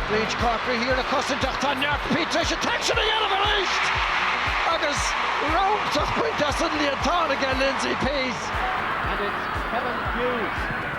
Breach Corkery thiar le cosaint ach tá Peat tar éis an t-aicsean a dhéanamh arís agus ropadh bainte as an líontán ag Lindsay Peat. And it's Kevin Hughes.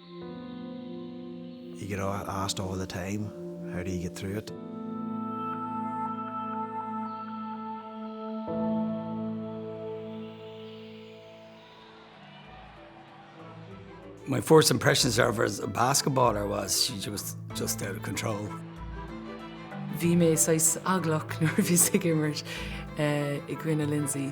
You get asked all the time, how do you get through it? My first impressions of her as a basketballer was she was just out of control. Bhí mé saghas eaglach nuair a bhíos ag imirt i gcoinne Lindsay.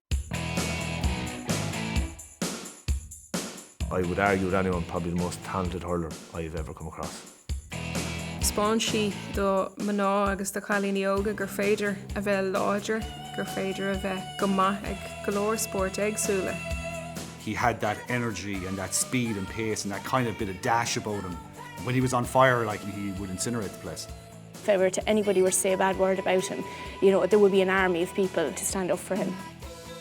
I would argue with anyone, probably the most talented hurler I have ever come across. Thiospáin sí do mná agus do chailíní óga gur féidir a bheith láidir, gur féidir a bheith go maith ag go leor spóirt éagsúla. He had that energy and that speed and pace and that kind of bit of dash about him. When he was on fire like he would incinerate the place. If ever anybody were to say a bad word about him, you know, there would be an army of people to stand up for him.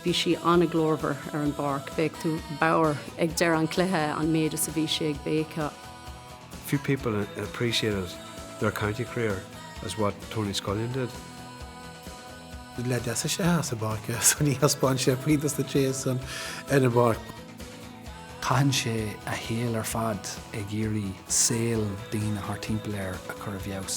Bhí sí an-ghlórmhar ar an bpáirc. Bheadh tú bodhar ag deireadh an chluiche an méid is a bhí sí ag béiceadh. Few people appreciated their county career as what Tony Scullion did. Leaid deas é as an bpáirc, so ní thaispeánann sé puinn dos na tréithe san ar an bpáirc. Caitheann sé a shaol ar fad ag iarraidh saol daoine thart timpeall air a chur i bhfeabhas.